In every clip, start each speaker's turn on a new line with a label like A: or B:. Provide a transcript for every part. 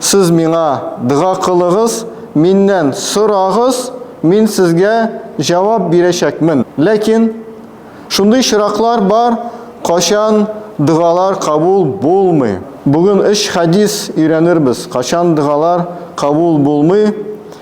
A: Сез миңа дога кылыгыз, миннән сорагыз, мин сезгә җавап бирәчәкмен. Ләкин шундый чираклар бар, качан догалар кабул булмый. Бүген өч хәдис өйрәнербез, качан догалар кабул булмый.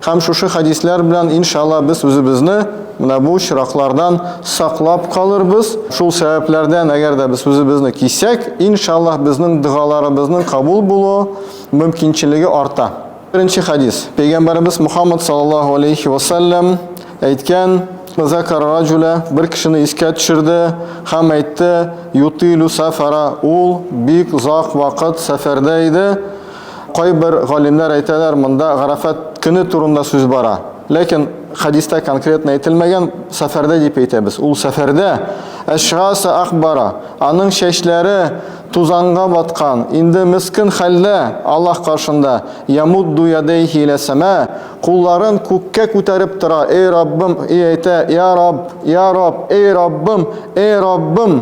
A: Һәм шушы хәдисләр белән, иншалла, без үзебезне менә бу очраклардан саклап калырбыз. Шул сәбәпләрдән, әгәр дә без үзебезне кисәк, иншалла, безнең догаларыбызның кабул булу мөмкинчелеге арта. Беренче хәдис. Пәйгамбәребез Мухаммад саллаллаһу алейхи ва саллям әйткән: "Закар раҗуля" бер кешене искә төшерде һәм әйтте: "Ютилю сафара" ул бик озак вакыт сәфәрдә иде. Кайбер галимнәр әйтәләр, монда Гарәфәт көне турында сүз бара. Ләкин хәдистә конкретно әйтелмәгән, сәфәрдә дип әйтәбез. Ул сәфәрдә әшгаса акбара, аның чәчләре тузанга баткан, инде мескен хәлдә Аллаһ каршында, ямудду ядәйһи илә сәма, кулларын күккә күтәреп тора, эй Раббым, и әйтә, я Рабб, я Рабб, эй Раббым, эй Раббым!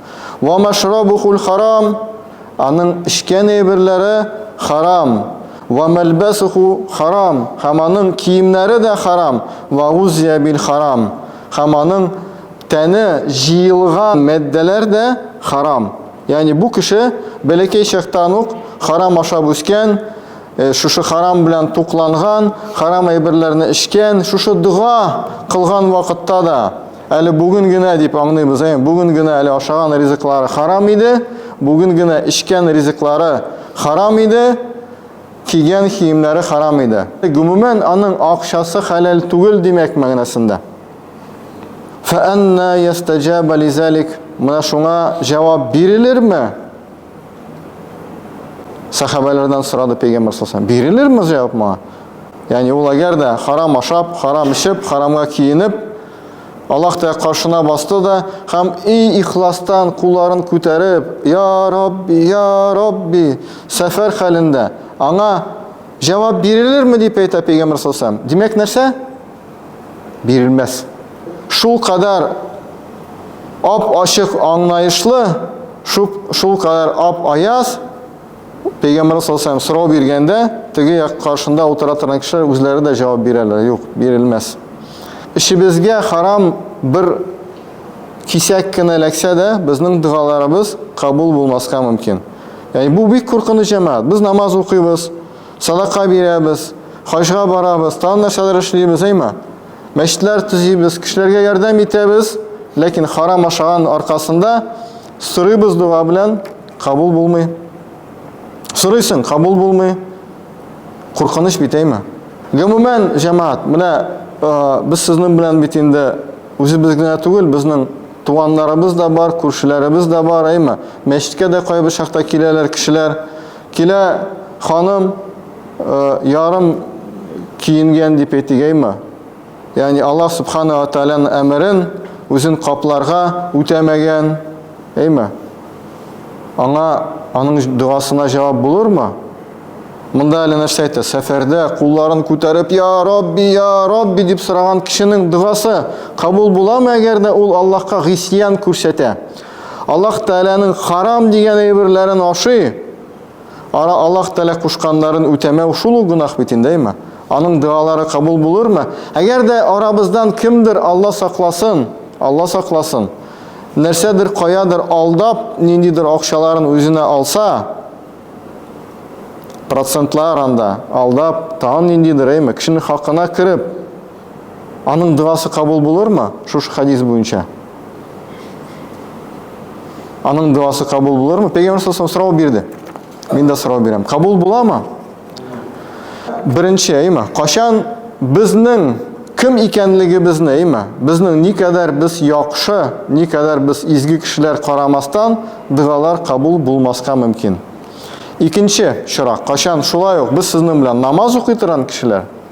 A: Ва машрабухул харам, аның эчкән әйберләре харам. Ва мәлбәсуху харам, һәм аның киемнәре дә харам. Ва гузия бил харам, һәм аның тәне җыелган матдәләр дә харам. Ягъни бу кеше бәләкәй чактан ук харам ашап үскән, шушы харам белән тукланган, харам әйберләрне эчкән, шушы дога кылган вакытта да, Әле бүген генә дип аңлыйбыз, әйе, бүген генә әле ашаган ризыклары харам иде, бүген генә эчкән ризыклары харам иде, кигән киемнәре харам иде. Гомумән, аның акчасы хәләл түгел димәк мәгънәсендә. Фәәннә ястәҗәбә лизалик. Менә шуңа җавап бирелерме? Сахабәләрдән сорады пәйгамбер саллаллаху Бирелерме җавап моңа? Ягъни ул әгәр дә харам ашап, харам эчеп, харамга киенеп, Аллаһ Тәгалә каршына басты да һәм и ихластан кулларын күтәреп, я Рабби, я Рабби, сәфәр хәлендә аңа җавап бирелерме дип әйтә пәйгамбер саллаллаху Димәк нәрсә? бирелмәс. Шул кадәр ап-ачык аңлаешлы, шул кадәр ап-аяз, Пәйгамбәргә саллаллаһу сорау биргәндә, теге як каршында утыра торган кешеләр үзләре дә җавап бирәләр, юк, бирелмәс. Эшебезгә харам бер кисәк кенә эләксә дә, безнең догаларыбыз кабул булмаска мөмкин. Яни бу бик куркыныч җәмәгать. Без намаз укыйбыз, Садака бирәбез, хаҗга барабыз, тагын нәрсәләр эшлибез, әйме? Мәчетләр төзибез, кешеләргә ярдәм итәбез, ләкин харам ашаган аркасында сорыйбыз дога белән, кабул булмый. Сорыйсың, кабул булмый. Куркыныч бит, әйме? Гомумән, җәмәгать, менә без сезнең белән бит инде үзебез генә түгел, безнең туганнарыбыз да бар, күршеләребез дә бар, әйме? Мәчеткә дә кайбер чакта киләләр кешеләр. Килә ханым ярым киенгән дип әйтегәйме? Ягъни Аллаһ Субхана ва Тааляның әмерен үзен капларга үтәмәгән, әйме? Аңа аның догасына җавап булырмы? Монда әле нәрсә әйтә? Сәфәрдә кулларын күтәреп, "Я Рабби, я Рабби" дип сораган кешенең догасы кабул буламы, әгәр дә ул Аллаһка гыйсьян күрсәтә? Аллаһ Тәгаләнең харам дигән әйберләрен ашый, ара Аллаһ Тәгалә кушканнарын үтәмәү шул ук гөнаһ бит инде, әйме? Аның дуалары кабул булырмы? Әгәр дә арабыздан кемдер Алла сакласын, Алла сакласын, нәрсәдер каядыр алдап, ниндидер акчаларын үзенә алса, процентлар анда алдап, тагын ниндидер, әйме, кешенең хакына кереп, аның дуасы кабул булырмы? Шушы хадис буенча. Аның дуасы кабул булырмы? Пәйгамбер саллаллаху сорау бирде. Мин дә сорау бирәм. Кабул буламы? Беренче, әйме? Кашан безнең кем икәнлегебезне, әйме? Безнең ни кадәр без яхшы, ни кадәр без изге кешеләр карамастан, дуалар кабул булмаска мөмкин. Икенче чорак, кашан шулай ук без сезнең белән намаз укый торган кешеләр,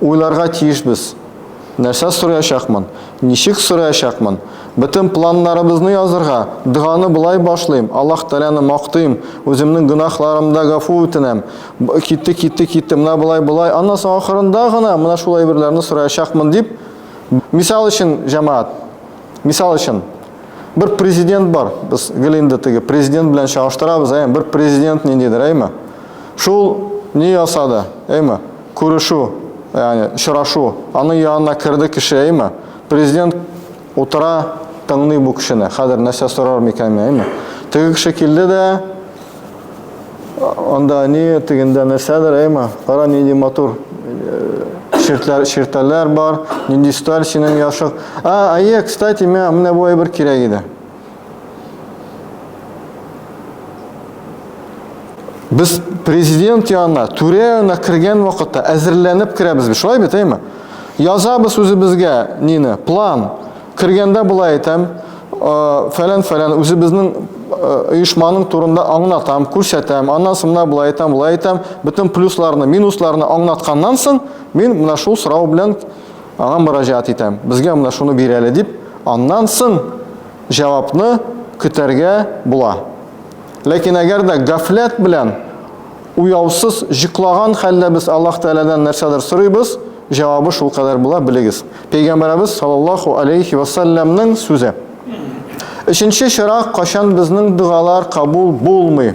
A: Уйларга тиешбез. Нәрсә сораячакмын? Ничек сораячакмын? Бөтен планнарыбызны язырга, доганы болай башлыйм, Аллаһ Тәгаләне мактыйм, үземнең гөнаһларымны да гафу үтенәм. Китте, китте, китте, менә болай, болай. Аннан соң ахырында гына менә шул әйберләрне сораячакмын дип, мисал өчен, җәмәгать, мисал өчен, бер президент бар. Без гел инде теге президент белән чагыштырабыз, әйме? Бер президент ниндидер, әйме? Шул ни ясады, әйме? Күрешү, ягъни очрашу. Аның янына керде кеше, әйме? Президент утыра, тыңлый бу кешене. Хәзер нәрсә сорар микән мине, әйме? Теге кеше килде дә, анда ни, тегендә нәрсәдер, әйме? Кара, нинди матур ширтләр, ширтәләр бар, нинди сталь синең яшык. А, әйе, кстати, миңа менә бу әйбер кирәк иде. Без президент янына, түрә янына кергән вакытта әзерләнеп керәбез. Шулай бит, әйме? Язабыз үзебезгә нине? План. Кергәндә болай әйтәм, фәлән-фәлән үзебезнең оешманың турында аңлатам, күрсәтәм, аннан соң менә болай әйтәм, болай әйтәм, бөтен плюсларны, минусларны аңлатканнан соң, мин менә шул сорау белән Аңа мөрәҗәгать итәм, безгә менә шуны бир әле дип, аннан соң җавапны көтәргә була. Ләкин әгәр дә гафләт белән уяусыз җыклаган хәлдә без Аллаһ Тәгаләдән нәрсәдер сорыйбыз, җавабы шулкадәр була, белегез. Пәйгамбәребез саллаллаһу алейхи ва саллямның сүзе. Өченче чара, кайчан безнең догалар кабул булмый?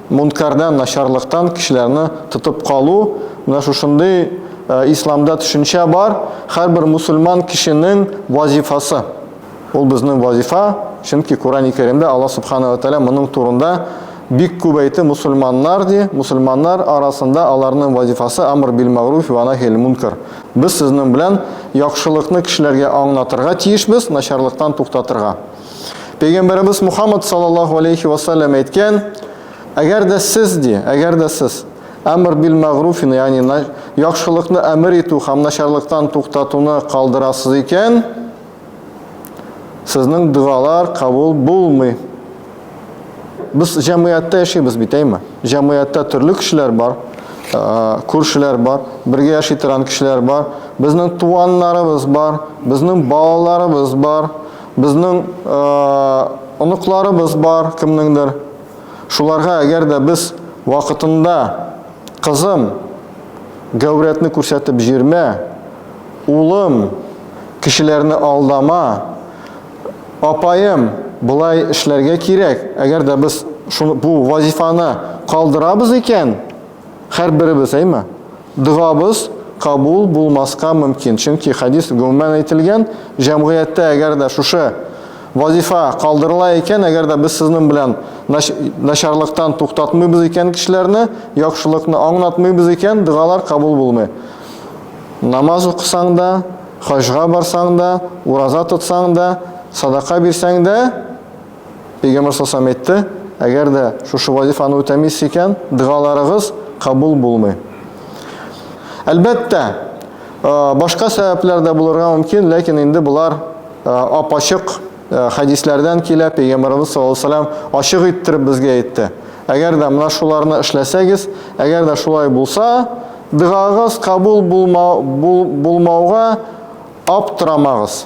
A: Мөнкәрдән, начарлыктан кешеләрне тотып калу, менә шушындый Исламда төшенчә бар, һәрбер мусульман кешенең вазифасы. Ул безнең вазифа, чөнки Коръәни Кәримдә Алла Субхана ва Тәгалә моның турында бик күп әйтте, мусульманнар, ди, мусульманнар арасында аларның вазифасы амр бил-мәгъруфи ва нахи әл-мөнкәр. Без сезнең белән яхшылыкны кешеләргә аңлатырга тиешбез, начарлыктан туктатырга. Пәйгамбәребез Мухаммад саллаллаху алейхи ва саллям әйткән, әгәр дә сез ди, әгәр дә сез әмр бил мәгруфин, ягъни яхшылыкны әмер итү һәм начарлыктан туктатуны калдырасыз икән, сезнең дуалар кабул булмый. Без җәмгыятьтә яшибез бит, әйме? Җәмгыятьтә төрле кешеләр бар, күршеләр бар, бергә яши торган кешеләр бар, безнең туганнарыбыз бар, безнең балаларыбыз бар. Безнең оныкларыбыз бар, кемнеңдер. Шуларга әгәр дә без вакытында, кызым, гәүрәтне күрсәтеп җирмә, улым, кешеләрне алдама, апаем, болай эшләргә кирәк, әгәр дә без бу вазифаны калдырабыз икән, Һәрберебез, әйме? Догабыз кабул булмаска мөмкин, чөнки хәдис гомумән әйтелгән, җәмгыятьтә әгәр дә шушы вазифа калдырыла икән, әгәр дә без сезнең белән начарлыктан туктатмыйбыз икән кешеләрне, яхшылыкны аңлатмыйбыз икән, догалар кабул булмый. Намаз укысаң да, хаҗга барсаң да, ураза тотсаң да, садака бирсәң дә, Пәйгамбәр саллаллаху әйтте, әгәр дә шушы вазифаны үтәмис икән, дәгаларыгыз кабул булмый. Әлбәттә, башка сәбәпләр дә булырга мөмкин, ләкин инде болар апачык хәдисләрдән килә, пәйгамбәрбез саллаллаху алейһи вассалам ачык иттереп безгә әйтте. Әгәр дә менә шуларны эшләсәгез, әгәр дә шулай булса, дәгагыз кабул булмау булмауга аптырамагыз.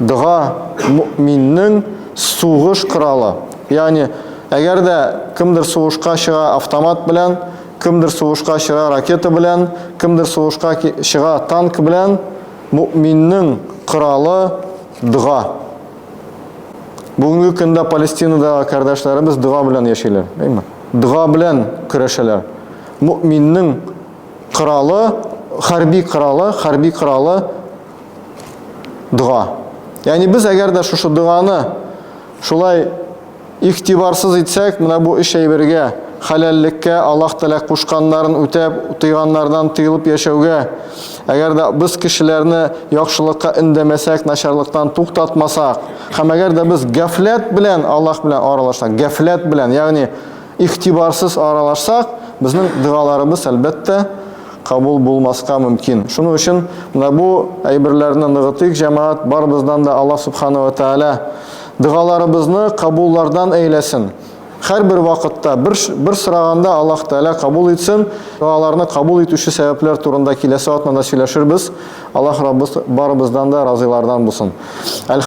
A: Дога мөминнең сугыш коралы. Ягъни, әгәр дә кемдер сугышка чыга автомат белән, кемдер сугышка чыга ракета белән, кемдер сугышка чыга танк белән, мөминнең коралы дога. Бүгенге көндә Палестинада кардәшләребез дога белән яшиләр, әйме? Дога белән көрәшәләр. Мөминнең коралы, хәрби коралы, хәрби коралы дога. Яни без әгәр дә шушы доганы шулай ихтибарсыз итсәк, менә бу өч әйбергә, халәллеккә, Аллаһ Тәгалә кушканнарын үтәп, тыйганнардан тыелып яшәүгә, әгәр дә без кешеләрне яхшылыкка индәмәсәк, начарлыктан туктатмасак, һәм әгәр дә без гафләт белән Аллаһ белән аралашсак, гафләт белән, ягъни Игътибарсыз аралашсак, безнең догаларыбыз, әлбәттә, кабул булмаска мөмкин. Шуның өчен менә бу әйберләрне ныгытыйк, җәмәгать, барыбыздан да Аллаһ Субхана ва Тәгалә догаларыбызны кабуллардан әйләсен. Һәрбер вакытта, бер, бер сораганда Аллаһ Тәгалә кабул итсен. Догаларны кабул итүче сәбәпләр турында киләсе атнада сөйләшербез. Аллаһ Раббыз барыбыздан да разыйлардан булсын.